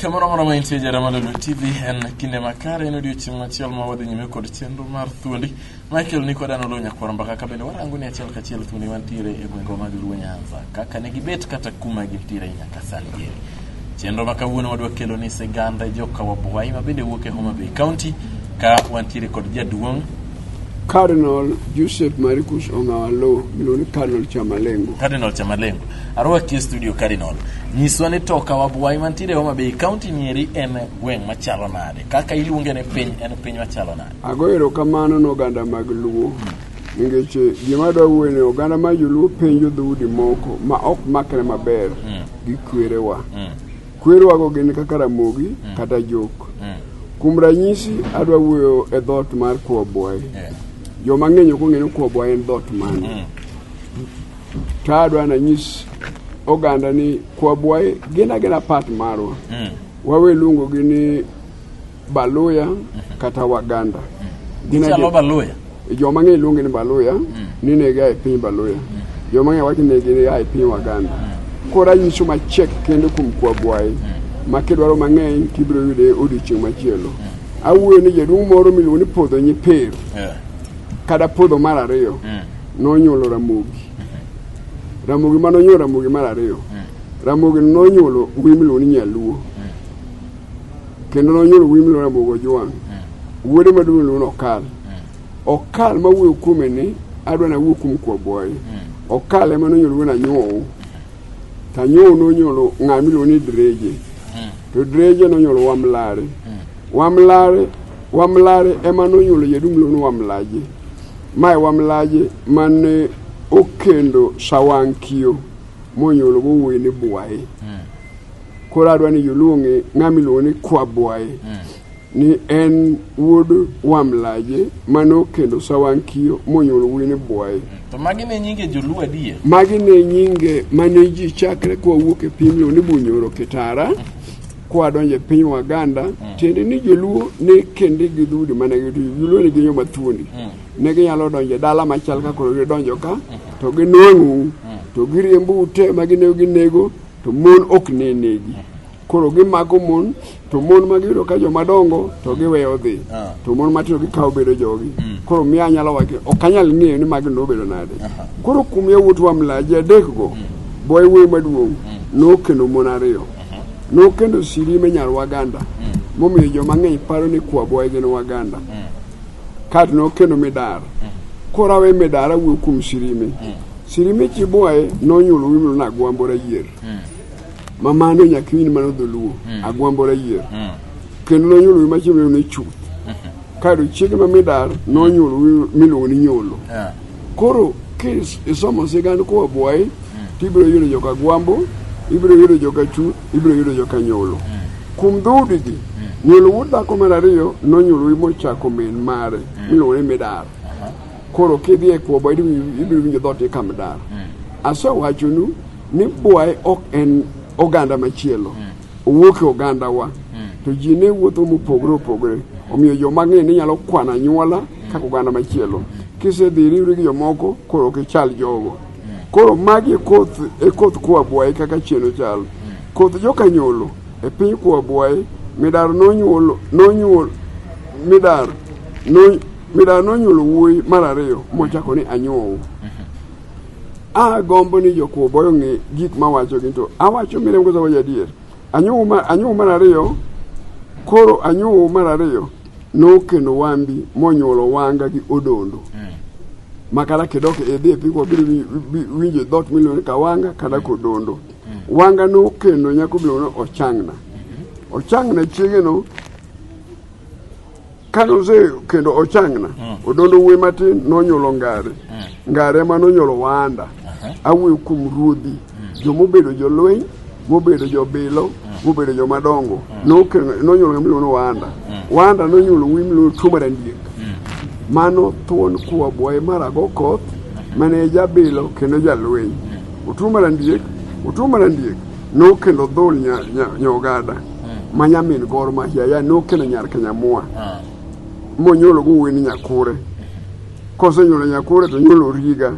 Kamoro moro ma intie jara malolo TV en kinde makare en odiochieng' machiel ma wadhi nyime kod chenro mar thuondi Michael ni kod anolo nyakwar mbaka ka bende warango ni achiel kachiel thuondi mantiere e gwengwa mag Luo Nyanza kaka ne gibet kata kuma gintiere nyaka sani gini. Chenro ma kawuono wadwa kelo ni sigand joka Wabwai ma bende wuok e Homa Bay County ka wantiere kod jaduong' Cardinal Joseph Maricus Ongawalo miluongo ni Cardinal Chamalengo. Cardinal Chamalengo. Arwaki e studio Cardinal. Nyiswa ni toka wabwai mantiere Homa Bay County nieri en gweng' machalo nade? Kaka iluonge ne piny en piny machalo nade? Ago erokamano ne oganda mag Luo. Nikech eh, gima adwa wuoyo ni oganda ma joluo penjo dhoudi moko ma ok makre maber hmm. gi kwerewa. Hmm. Kwerewago gin kaka Ramogi mm. kata Jok. Mm. Kuom ranyisi, adwa wuoyo e dhot mar Kwabwayi. Yeah. Joma ng'eny ok ong'eyo Kwabwayi en dhot mane. Mm. To adwa nanyis oganda ni Kwabwayi gin agina part marwa. Mm. Wawe luongogi ni Baluya kata Waganda. Gin Gichalo adier- Baluya. Jo mang'eny luonge ni Baluya ni ne gia e piny Baluya. Jo mang'eny wacho ni ne gia e piny Waganda. Koro anyiso machek kendo kuom Kwagwayi ma kidwaro mang'eny tibiro yude odiochieng' machielo. Awuoyo ni jaduong' moro miluongo ni Podho Nyipero Eh, kata Podho mar ariyo nonyuolo Ramogi. Ramogi ma nonyuolo Ramogi mar ariyo. Ramogi nonyuolo wuoyi miluongo ni Nyaluo. kendo nonyuolo wuoyi miluongo Ramogi Ojwang'. Wuode maduong' iluongo ni Okal. Okal ma wuoyo kuome ni adwa ni awuo kuom Kwaboye. Okal ema nonyuolo wuon Anyuow. To Anyuow nonyuolo ng'a miluongo ni Dreje. To Dreje nonyuolo Wamlare. Wamlare Wamlare ema nonyuolo jaduong' miluongo ni Wamlaje. Mae Wamlaje mane okendo Sawankio monyuolo go wuoyi ni Bwaye. Koro adwa ni joluo ong'e ng'ama miluongo ni Kwabwaye mm. ni en wuod Wamlaje mano kendo Sawankiyo monyuol wuoyi ni Bwaye. Mm. To magi ne nyinge joluo adier. Magi ne nyinge mane ji chakre kwa wuok e piny miluongo ni Bunyoro Kitara. Mm. kwa donje piny Waganda mm. tiende ni joluo ne kende gi dhudi mane gi joluo ne ginyo mathuondi mm. ne ginyalo donje dala machal ka koro gidonjo ka mm. to ginwang'u mm. to giriembu ute ma ginego ginego to mon ok ne negi koro gimako mon to mon ma giyudo ka joma dongo to giweyo dhi Ah. to mon matindo gikawo bedo jogi koro miyo anyalo wacho ok anyal ng'eyo ni magi nobedo nade koro kuom yawuot wa mlaji adekgo boy wuoyi maduong' nokendo mon ariyo nokendo sirime nyar waganda momiyo joma ng'eny paro ni kwaboye gin waganda kato nokendo midar koro awe midar awuo kuom sirime Sirime Chibuaye nonyuolo wimlo na Agwambora Yier. Mm. Mamano nyakiwini mano dholuo mm. Agwambora Yier. Mm. Kendo nonyuolo wimlo machielo ni Chuth. Mm -hmm. Kado chiege ma midar nonyuolo wimlo miluongo ni Nyolo. Yeah. Koro kis isomo sigand koa Buaye mm. tibiro yudo joka Agwambo, ibiro yudo joka Chuth, ibiro yudo joka Nyolo. Mm. Kuom dhoudi gi mm. Nyolo wuod dhako mar ariyo nonyuolo wimlo chako min mare mm. miluongo ni midar. Koro kidhi e kwobo ibiro winjo dhot ikam dar. Mm. Asewachonu ni bwaye ok en oganda machielo. Mm. Owuok e ogandawa. Mm. To ji ne wuotho mopogore opogore. Mm. Omiyo joma ng'e ni nyalo kwana nyuola mm. kaka oganda machielo. Mm. Kisedhi iriwri gi jomoko koro ok ichal jogo. Mm. Koro magi e koth e koth kwa bwaye kaka chieno chal. Mm. Koth joka nyolo e piny kwa bwaye midar nonyuol nonyuol midar nonyuol Midara nonyuolo wuoyi mar ariyo mochako ni Anyuowu. Agombo ni jokwo boyo ng'e gik mawachogi to awacho miriambo kose wacho adier. Anyuowu mar, anyuowu mar ariyo koro anyuowu mar ariyo nokendo wambi monyuolo wanga gi odondo ma kata kidok idhi e pigwa biro wi- wi- winjo dhot miluongo ni kawanga kata kodondo wanga nokendo nyako miluongo ni ochangna ochangna chiegeno Kane ose kendo ochangna, odondo wuoyi matin nonyuolo ngare. Ngare ema nonyuolo wanda. Awuoyo kuom ruodhi, joma obedo jolweny, mobedo jobilo, mobedo joma dongo. Nokelo- Nonyuolo ng'ama iluongo ni wanda. Wanda nonyuolo wuoyi miluongo tuo mar andiek. Mano thuon kuwa bwaye mar Agokoth, mane jabilo kendo jalweny. Otuo mar andiek, otuo mar andiek. nokendo dhul nya- nya- nyogada ma nyamin gor ma hiaya nokendo nyar kenyamua monyuolo gowuoyi ni nyakure kosenyuolo nyakure to nyuolo riga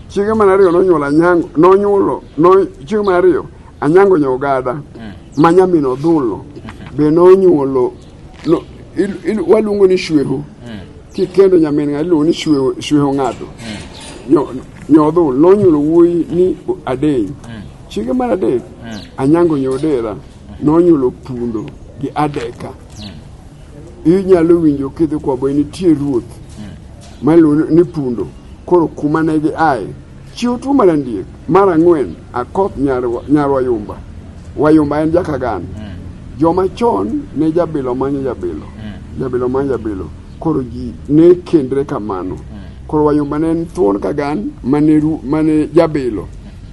chiege mar ariyo nonyuolo anyango nonyuolo no- chiege mar ariyo anyango nyogada ma nyamin odhulo be nonyuolo no- il- il- waluongo ni shweho kikendo nyamin ng'ato iluongo ni shweho shweho ng'ato Nyo- nyodhul nonyuolo wuoyi ni adeny Chiege mar adek, Anyango Nyodera, nonyuolo Pundo gi Adeka. Inyalo winjo kidhi kwa boy nitie ruoth maluongo ni Pundo. Koro kuma ne gi aye, chiwo tuo mar andiek. Mar ang'wen, Akoth Nyarwa- Nyarwayumba. Wayumba en jakagan. Joma chon ne jabilo manyo jabilo, jabilo manyo jabilo. Koro ji ne kendre kamano. Koro Wayumba ne en thuon kagan mane ru- mane jabilo.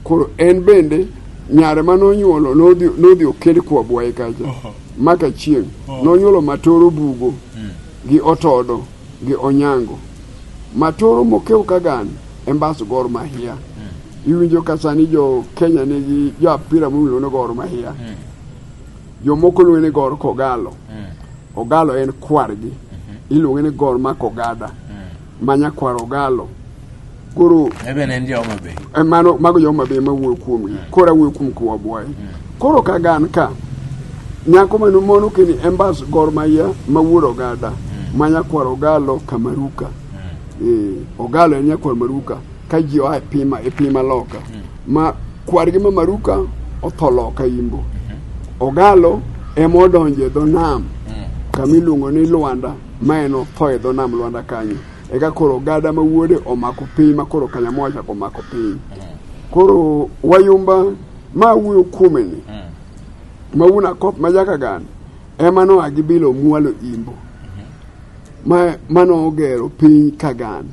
koro en bende nyare ma nonyuolo nodhi nodhi oked kwa bwaye kacha maka chieng' nonyuolo matoro bugo gi otodo gi onyango matoro mokew kagan embas gor mahia iwinjo ka sani jo kenya nigi jo apira miluongo ni gor mahia jomoko luonge ni gor kogalo ogalo en kwargi iluonge ni gor ma kogada ma nyakwar ogalo koro eh, mano mago joma be ma wuoyo kuomgi mm. koro awuoyo kuom kwabwaye mm. koro ka gan ka nyako mano mono kini embas gor maya ma wuod ogada mm. ma nyakwar ogalo kamaruka eh, ogalo en nyakwar maruka ka ji oa e pima e pima loka ma kwargi ma maruka otho loka imbo mm-hmm. ogalo ema odonjo e dho nam kama iluongo ni lwanda ma en otho e dho nam lwanda kanyo eka koro ogada ma wuode omako piny ma koro kanyamoa chako omako piny koro wayumba ma wuoyo kuome ni ma wuon akop ma jakagan ema noa gi bilo mwalo imbo ma ma nogero piny kagan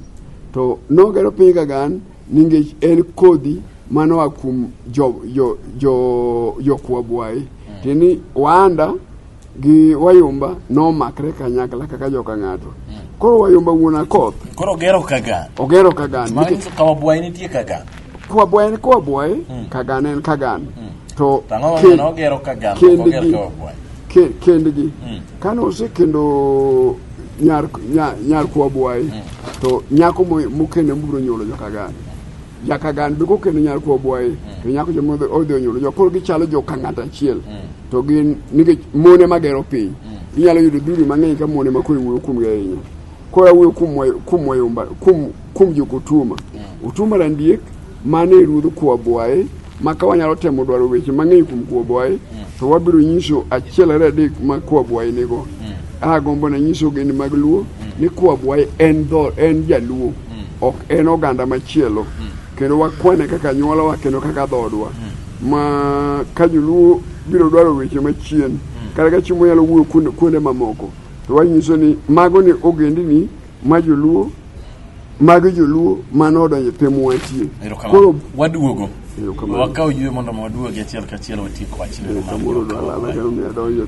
to nogero piny kagan nikech en kodhi ma noa kuom jo jo jo jokwabwayi tiende ni waanda gi wayomba nomakre kanyakla kaka joka ng'ato koro wayomba wuon akoth Koro ogero kaga. ogero kagan Mano nikech nyiso kama bwayi nitie kaga. kwabwaye ni kwabwaye kagan en kagan to To ang'o kend- momiyo nogero kaga to ok oger kendgi kama bwayi? ke- kendgi kane osekendo nyar nya- nyar kwabwaye to nyako mo- mokende mobiro nyuolo joka gani jakagan duko kendo nyal kuo bwaye mm. to nyako joma odhi onyuolo jo koro gichalo jo ka ng'at achiel mm. to gin nikech mone magero piny mm. inyalo yudo dhuri mang'eny ka mone makoro iwuoyo kuomgi ahinya koro awuoyo kuom wayomba kuom jok otuma otuma randiek mane ruodh kuo bwaye ma ka wanyalo temo dwaro weche mang'eny kuom kuo bwaye to wabiro nyiso achiel ariyo adek ma kuo bwaye nigo agombo na nyiso geni mag luo ni kuo bwaye en jaluo ok en oganda machielo kendo wakwane kaka anyuolawa kendo kaka dhoodwa ma ka joluo biro dwaro weche machien kata ka chiemo nyalo wuoyo kuonde- kuonde mamoko to wanyiso ni mago ni ogendini ma joluo mago joluo mane odonjo e piny mwatie Erokamano. koro waduogo Erokamano. wakaw yue mondo waduogi achiel kachiel watiek wachni Erokamano. Kamoro dwalala kendo miya donjo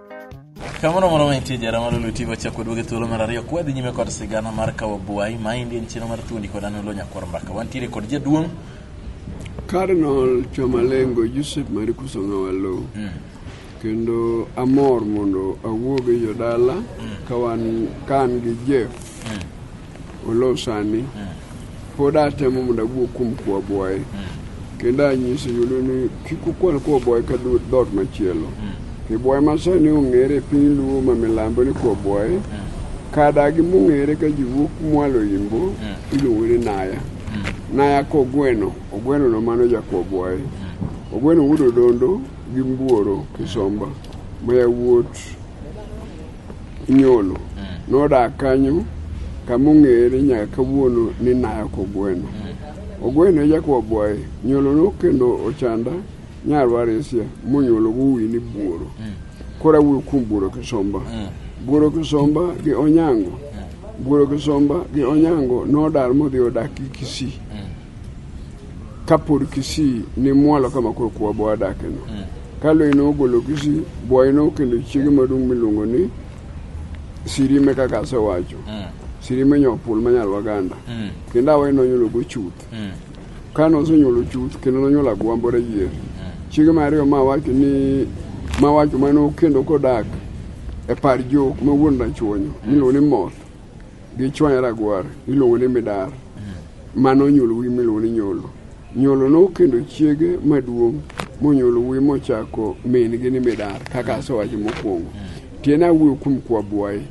Kamoro moro mantie jara mar Luo TV wachako duoge thuolo mar ariyo kwa dhi nyime kod sigana mar kawo buai ma endi en chenro mar thuondi kod an Olo Nyakwar Mbaka. Wantiere kod jaduong' Cardinal Chamalengo Joseph Marikuso Ng'awalo kendo amor mondo awuog e jodala ka wan ka an gi Jeff Olo sani pod atemo mondo awuo kuom kwa boye kendo anyise yudo ni kik ukwan kwa boye ka dho- dhoot machielo kiboye masani ong'ere e piny luo ma milambo ni kwa boye kadagi mong'ere ka ji wuok mwalo imbo iluongo ni naya naya ka ogweno ogweno no mano jakwa boye ogweno wuod odondo gi mbuoro kisomba ma yawuot inyolo nodak kanyo kama ong'ere nyaka kawuono ni Nayak Ogweno. Ogweno e jakwa bwaye nyolo no kendo ochanda nyarwa resia monyolo wuwi ni buoro. Koro awuoyo kuom buoro kisomba. Buoro kisomba gi onyango. Buoro kisomba gi onyango nodar modhi odak gi Kisii. kapod Kisii ne mwalo kama koro kwabwa wadakeno. Mm. Ka lweny nogolo Kisii, Bwayi nokendo chiege maduong' miluongo ni Sirime kaka asewacho. Mm. Sirime nyopul manyal Waganda. Mm. Kendo awe nonyulogo chuth. Mm. Ka nosenyulo chuth kendo nonyulo agwambo rayier. Mm. Chiege mar ariyo ma wacho ni ma wacho mano kendo kodak e par jok ma wuon rachuonyo mm. miluongo ni moth. Gichwanya ragwar iluongo ni midar mano onyuolo wuoyi miluongo ni nyolo nyolo nokendo chiege maduong' monyuolo wuoyi mochako min-gi ni midar kaka asewacho mokwongo tiende awuoyo kuom kwabwayi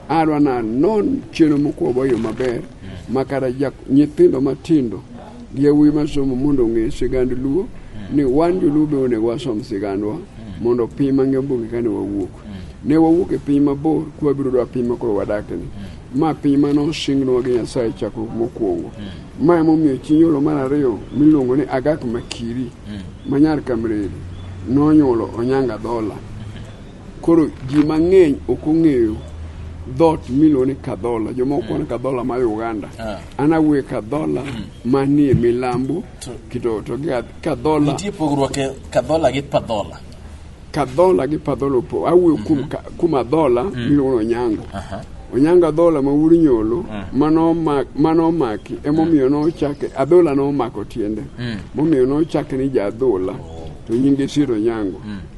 adwa nanon chenro mokwabayo maber makata nyithindo matindo Yawuoyi masomo mondo ong'e sigand Luo hmm. ni wan joluo be onego wasom sigandwa hmm. mondo piny mang'e obugi kane wawuok. Hmm. Ne wawuok e piny mabor kwabiro dwa piny makoro wadakni. Ma piny mane osingnwa gi Nyasaye chakruok mokwongo. Ma emomiyo chi nyuolo mar ariyo miluongo ni Agak Makiri manyar Kamreri nonyuolo Onyanga Dhola. Koro ji mang'eny ok ong'eyo dhot miluongo ni Kadhola, jomoko kwana Kadhola ma Uganda. Ah. An awuoyo Kadhola manie milambo To- kito to gi Kadhola Nitie pogruok e kadhola gi padhola. kadhola gi padhola opo awuoyo kuom ka- kuom adhola miluongo ni onyango onyango adhola ma wuod nyolo mano ma- mano omaki emomiyo nochake adhola nomako tiende momiyo nochake ni jaadhola to nyinge siro onyango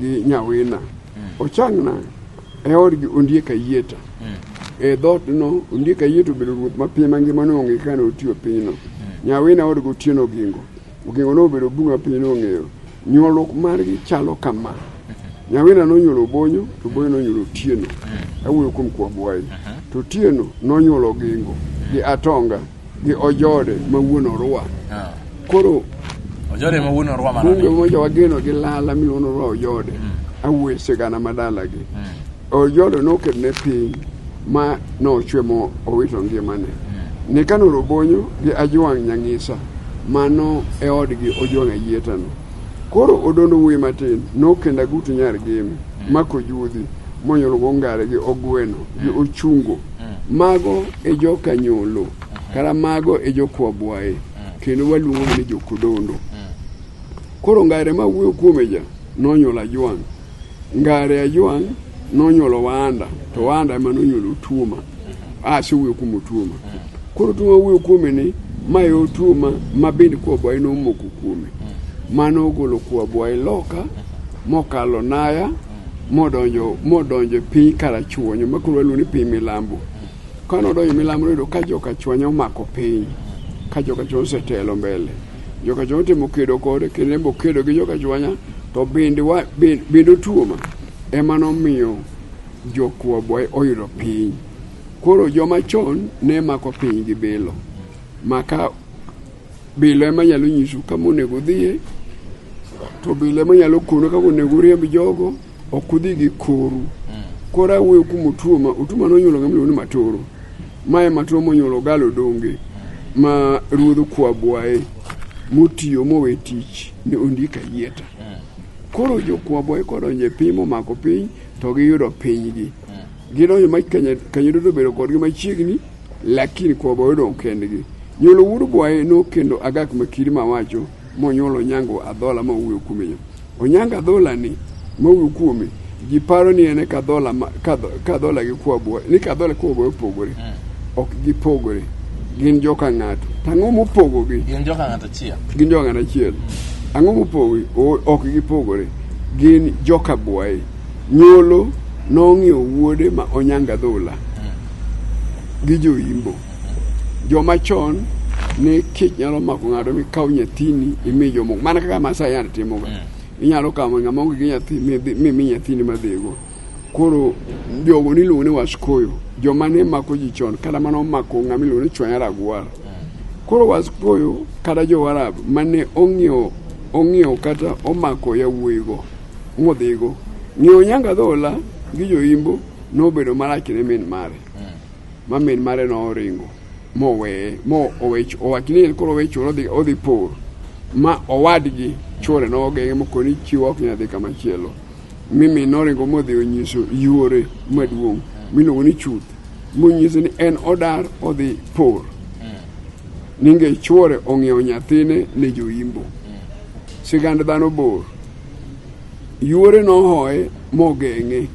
gi nyawina ochangna e odgi ondiek ayieta e dhootno ondiek ayieta obedo ruoth mapiny mangima noonge kaka ne otiyo pinyno nyawina odgi otieno ogingo ogingo nobedo bungu mapiny nong'eyo nyuolruok margi chalo kama nyawina nonyuolo obonyo to obonyo nonyuolo otieno awuoyo kuom kwabwayi to otieno nonyuolo ogingo gi atonga gi ojode ma wuon orwa Ah. koro Ojode ma wuon orwa mano. bunge moja wageno gi lala miluongo ni orwa ojode awuoye sigana ma dalagi ojode noket ne piny ma nochwe mo owito ngimane ni kano robonyo gi ajwang' nyang'isa mano e odgi ojwang' ayietano koro odondo wuoyi matin nokendo agutu nyar gimi mako judhi monyuolgo ngare gi ogweno gi ochungo Mago e joka nyolo, kara mago e jokwabwaye, kendo waluongo ni jokodondo. Koro ngare ma wuoyo kuome ja nonyuolo ajwang', ngare ajwang' nonyuolo wanda, to wanda ema nonyuolo tuoma. Ase wuoyo kuom otuoma. Koro tuoma wuoyo kuome ni ma e otuoma ma bende kwabwaye nomoko kuome. Mano ogolo kwabwaye loka mokalo naya modonjo modonjo e piny karachuonyo ma koro waluongo ni piny milambo ka nodonjo milambo noyudo ka joka chuonyo omako piny ka joka chuonyo osetelo mbele joka chuonyo otimo kedo kode kendo en be okedo gi joka chuanya to bende wa- be- bende otuoma ema nomiyo jokwobwa oyudo piny koro joma chon ne mako piny gi bilo maka Bila ema nyalo nyisu kama onego udhiye, to bila ema nyalo konu kaka onego uriemb jogo, ok udhi gi koru. Koro awuoyo kuom Otuoma, Otuoma nonyuolo ng'ama iluongo ni Matoro. Mae Matoro monyuolo Galo Donge ma ruodh Kwabwaye motiyo mowe tich ne ondika yieta. Koro jo Kwabwaye kodonjo e piny momako piny to giyudo pinygi. Gidonjo ma kanyo duto bedo kodgi machiegni, lakini kwabo odong' kendgi. Nyuolo wuod bwaye nokendo agak makiri mawacho monyuolo onyango adhola ma wuoyo kuome yo. Onyango adhola ni ma wuoyo kuome ji paro ni en kadhola kadhola gi kwabo ni kadhola kwabo opogore. Hmm. Ok gipogore. Gin joka ng'ato. Tang'o mopogogi. Gin joka ng'ato achiel. Gin joka ng'ato achiel. Hmm. Ang'o mopogogi? Ok gipogore. Gin joka bwaye. Nyolo nong'iewo wuode ma Onyanga Dhula gi joimbo. Joma chon ne kech nyalo mako ng'ato mikaw nyathini imi jomoko mana kaka Masai yande timoga. Mm. Inyalo kawo ng'ama onge gi nyathi mimi nyathini madhigo. Koro jogo niluongo ni waskoyo joma ne mako ji chon kata mana omako ng'ama iluongo ni chwanya ragwar. Mm. Koro waskoyo kata jo Warab mane ong'iewo kata omako yawuoyigo Modhigo. Ng'iewo nyanga dhola gi joimbo nobedo marach ne min mare. Ma min mare noringo moweye mo owech owach ni koro owe chulo odhi odhi por ma owadgi chuore nogeng'e mokoni chiwo ok nyal dhi kama chielo mi min noringo modhi onyiso yuore maduong' miluongo ni chuth monyiso ni en odar odhi por ninge chuore ong'iewo nyathine ne joimbo sigand dhano bor Yuore nohoye mogeng'e.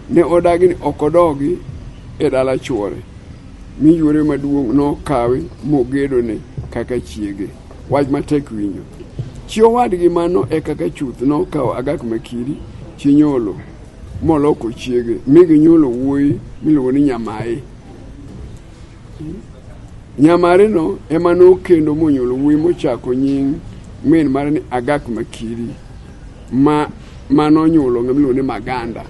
Ne odagi ni ok odogi e dala chwore, mi yuore maduong' nokawe mogedone kaka chiege. Wach matek winjo. Chi owadgi mano e kaka chuth nokawo Agak Makiri chi Nyolo moloko chiege mi ginyuolo wuoyi miluongo ni Nyamaye. Nyamareno ema nokendo monyuol wuoyi mochako nying min mare ni Agak Makiri ma manonyuolo ng'ama iluongo ni Maganda.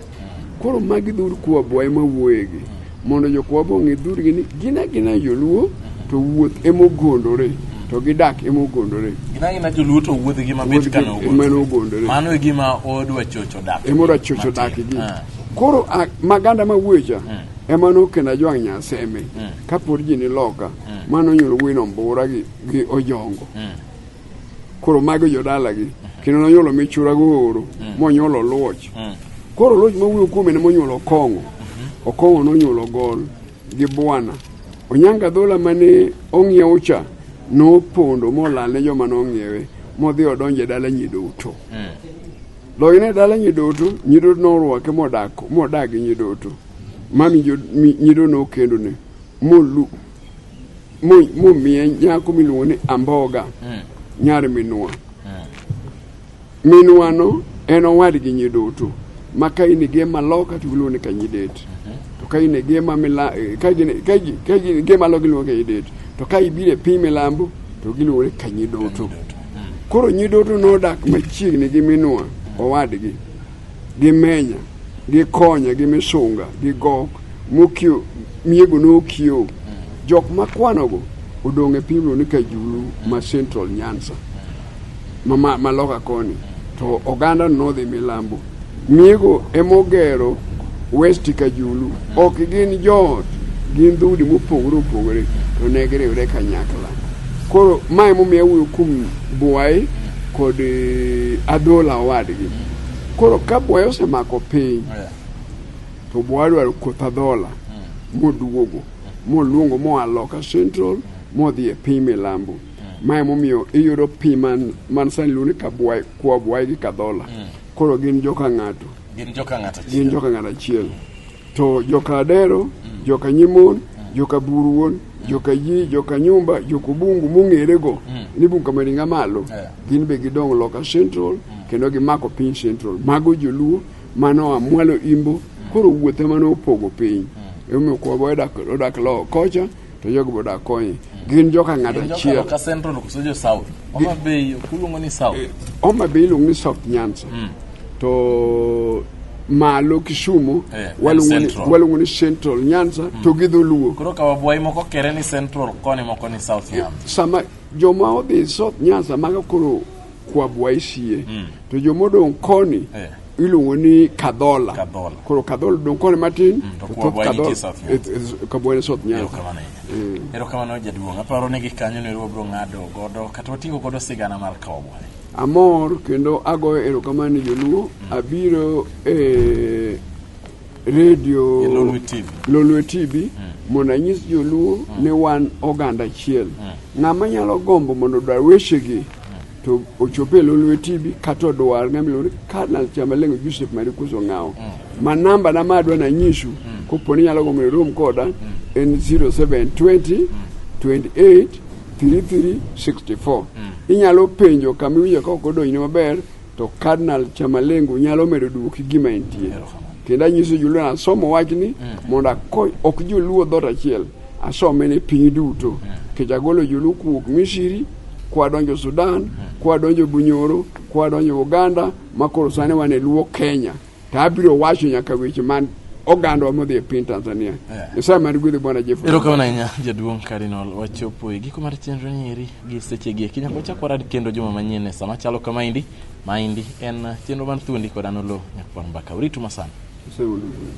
Koro magi dhur Kwabwa ema wuoyegi mondo jokwabwa ong'e dhurgi ni gin agina joluo to wuoth ema ogondore to gidak ema ogondore Gina gina joluo to wuodhgi ma bet ka Wuodhgi ema nogondore. Mano e gima odwa chocho dak. ema odwa chocho dakgi Ah. koro a- maganda ma wuocha ema nokenda jwang' nyasembe mm. kapod ji niloka mm. mano nyulo wino mbura gi, gi ojongo mm. koro mago jodalagi mm. kendo nonyulo michura gooro mm. monyulo luoch mm. koro luoch mawuoyo kuome ne monyulo okong'o mm-hmm. okong'o nonyulo gol gi bwana onyanga dhola mane ong'iewo cha nopondo molal ne joma nong'iewe modhi odonje dala nyiduto mm. loyne dala nyiduto nyiduto norwake modak modagi nyiduto Mami nyido nokendo ne molu momiye nyako miluongo ni Amboga mm. nyar minwa mm. minwano en owadgi nyiduto ma ka in gi ema loka to giluongo ni kanyidet mm-hmm. to ka in gi ema mila eh, ka gin ka gin gi ema loka giluongo kanyidet to ka ibire piny milambo to giluongo ni kanyidoto mm. koro nyidoto nodak machiegni gi minwa owadgi gi menya gi konya gi misunga gi gok mokio miego nokio jok makwanogo odong' e pimno ni kajulu ma central nyansa ma- ma- maloka koni to oganda nodhi milambo miego emogero west kajulu ok gin joot gin dhoudi mopogore opogore to ne giriwre kanyakla koro ma emomiyo awuoyo kuom bwayi kod eh, adhola owadgi Koro ka bwayo osemako piny Yeah. to bwayo dwaro koth adhola moduogo moluongo moa loka central modhi e piny milambo ma emomiyo iyudo pi man man sani luonde ka bwayo kwa bwayo gi kadhola koro gin joka ng'ato Gin joka ng'ato gin achiel. joka ng'ato achiel to joka Adero, mm. joka Nyimon, mm. joka Buruon, mm. joka Yi, joka Nyumba, joka Bungu mong'erego ni Bungu kama ringa malo, gin be gidong loka Central kendo gimako piny Central. Mago joluo mano amwalo imbo koro wuothe mano opogo piny. Emomiyo kwa odak loko kocha to jogi be odak konye. Gin joka ng'ato Gin joka achiel. Loka Central koso jo South. Homa Bay kuluongo ni South. Homa Bay iluongo ni South Nyanza. To malo Kisumu Eh, en waluongo ni- Central. waluongo ni Central Nyanza to gi dholuo. Koro ka wabwayi moko kere ni Central koni moko ni South Yam. Sama joma odhi South Nyanza maga koro kwabwa isie mm. to jomodong' koni eh. iluongo ni kadhola kadhola koro kadhola dong' koni matin mm, to thoth kadhola kabwani south nyanza mm. erokamano jaduong' aparo ni gikanyo ne ruobro ng'ado godo kata wating'o godo sigana mar kawbwa amor kendo agoyo erokamano ni joluo mm. abiro e redio E Lolwe TV. Lolwe TV mondo anyis joluo ni wan oganda achiel. Ng'ama nyalo gombo mondo odwar wechegi to ochop e Lolwe TV kata odwar ng'ama iluongo ni Karnal Chamalengo Joseph Marikuso Ng'awo. Ma namba na ma adwa nanyisu kopo ni nyalo gombo ni rom koda en 0720 28 3364. Inyalo penjo kama iwinjo ka ok odonjni maber To Cardinal Chamalengo nyalo medo duoki gima entie. Kendo anyiso joluo ni asomo wachni mm. mondo akony ok joluo dhoot achiel asome ni piny duto. Mm. Kech agolo joluo kuwuok Misiri kwadonjo Sudan, mm. kwadonjo Bunyoro, kwadonjo Uganda makoro sani wan e luo Kenya. to abiro wacho nyaka weche man ogandwa modhi e piny Tanzania. Yeah. Nyasaye man gwedhi Bwana Jeffrey. Erokamano ahinya jaduong' Cardinal wachopo e giko mar chenro ni eri gi seche gi eki nyaka wachak warad kendo juma manyien e sama chalo kamaendi maendi en chenro mar thuondi kod an Oloo Nyakwar Mbaka. Uritu masana. Nyasaye mondo ogwedhi.